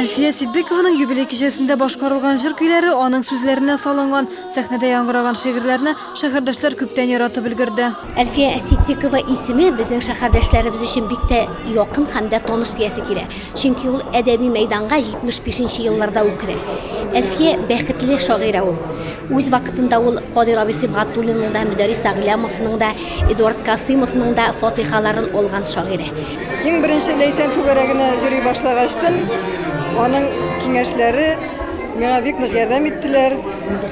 Әлфия Ситдыкованың юбилей кичәсендә башкарылган җыр-көйләре, аның сүзләренә салынган, сәхнәдә яңгыраган шигырьләрне шәһәрдәшләр күптән яратып өлгерде. Әлфия Ситдыкова исеме безнең шәһәрдәшләребез өчен бик тә якын һәм дә таныш диясе килә. Чөнки ул әдәби мәйданга 75 нче елларда үк керә. Әлфия, бәхетле шагыйрә ул. Үз вакытында ул Кадир абый Сибгатуллинның да, Мөдәрис Сәгълямовның да, Эдуард Касыймовның да фатихаларын алган шагыйрә. Иң беренче Ләйсән түгәрәгенә йөри башлагачтын, аның киңәшләре миңа бик нык ярдәм иттеләр.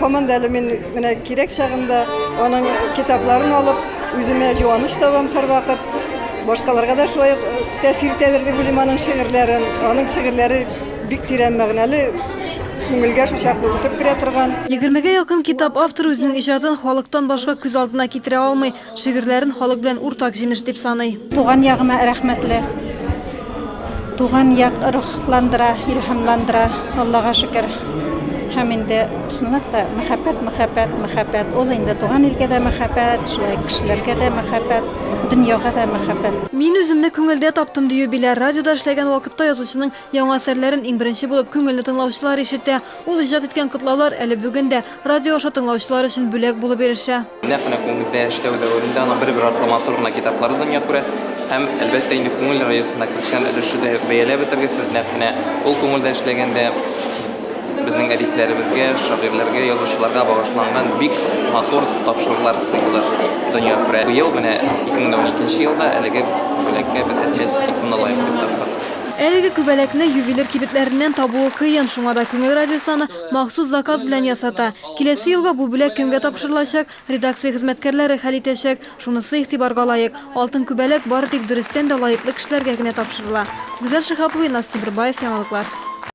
Һаман да әле мин менә кирәк чагында аның китапларын алып, үземә юаныч табам һәрвакыт. Башкаларга да шулай э, тәэсир итәдер дип уйлыйм аның шигырьләрен. Аның шигырьләре Бик тирән мәгънәле, күңелгә шул чакны үтеп керә торган. Егермегә якын китап авторы үзенең иҗатын халыктан башка күз алдына китерә алмый, шигырьләрен халык белән уртак җимеш дип саный. Туган ягыма рәхмәтле. Туган як рухландыра, илһамландыра, Аллага шөкер. Һәм инде, чынлап та, мәхәббәт, мәхәббәт, мәхәббәт. Ул инде туган илгә дә мәхәббәт, шулай ук кешеләргә дә мәхәббәт, дөньяга да мәхәббәт. Мин үземне күңелдә таптым, дию Биләр радиода эшләгән вакытта язучының Яңа әсәрләрен иң беренче булып күңелле тыңлаучылар ишетә. Ул иҗат иткән котлаулар әле бүген дә радио аша тыңлаучылар өчен бүләк булып ирешә. Нәкъ менә күңелдә яшьләү дәверендә аның бер-бер артлы матур гына китаплары дөнья күрә. Һәм, әлбәттә инде, күңел радиосына керткән өлеше дә юк. Бәяләп бетергесез, нәкъ менә ул күңелдә эшләгәндә безнең әдипләребезгә, шагыйрьләргә, язучыларга багышланган бик матур тапшырулар циклы дөнья күрә. Быел менә, 2012 нче елда, әлеге бүләккә без әтиләс итеп моны лаек дип таптык. Әлеге күбәләкне ювелир кибетләреннән табуы кыен, шуңа да Күңел радиосы аны махсус заказ белән ясата. Киләсе елга бу бүләк кемгә тапшырылачак, редакция хезмәткәрләре хәл итәчәк. Шунысы игътибарга лаек, алтын күбәләк бары тик дөрестән дә лаеклы кешеләргә генә тапшырыла. Гүзәл Шиһапова, Илназ Тимербаев, Яңалыклар.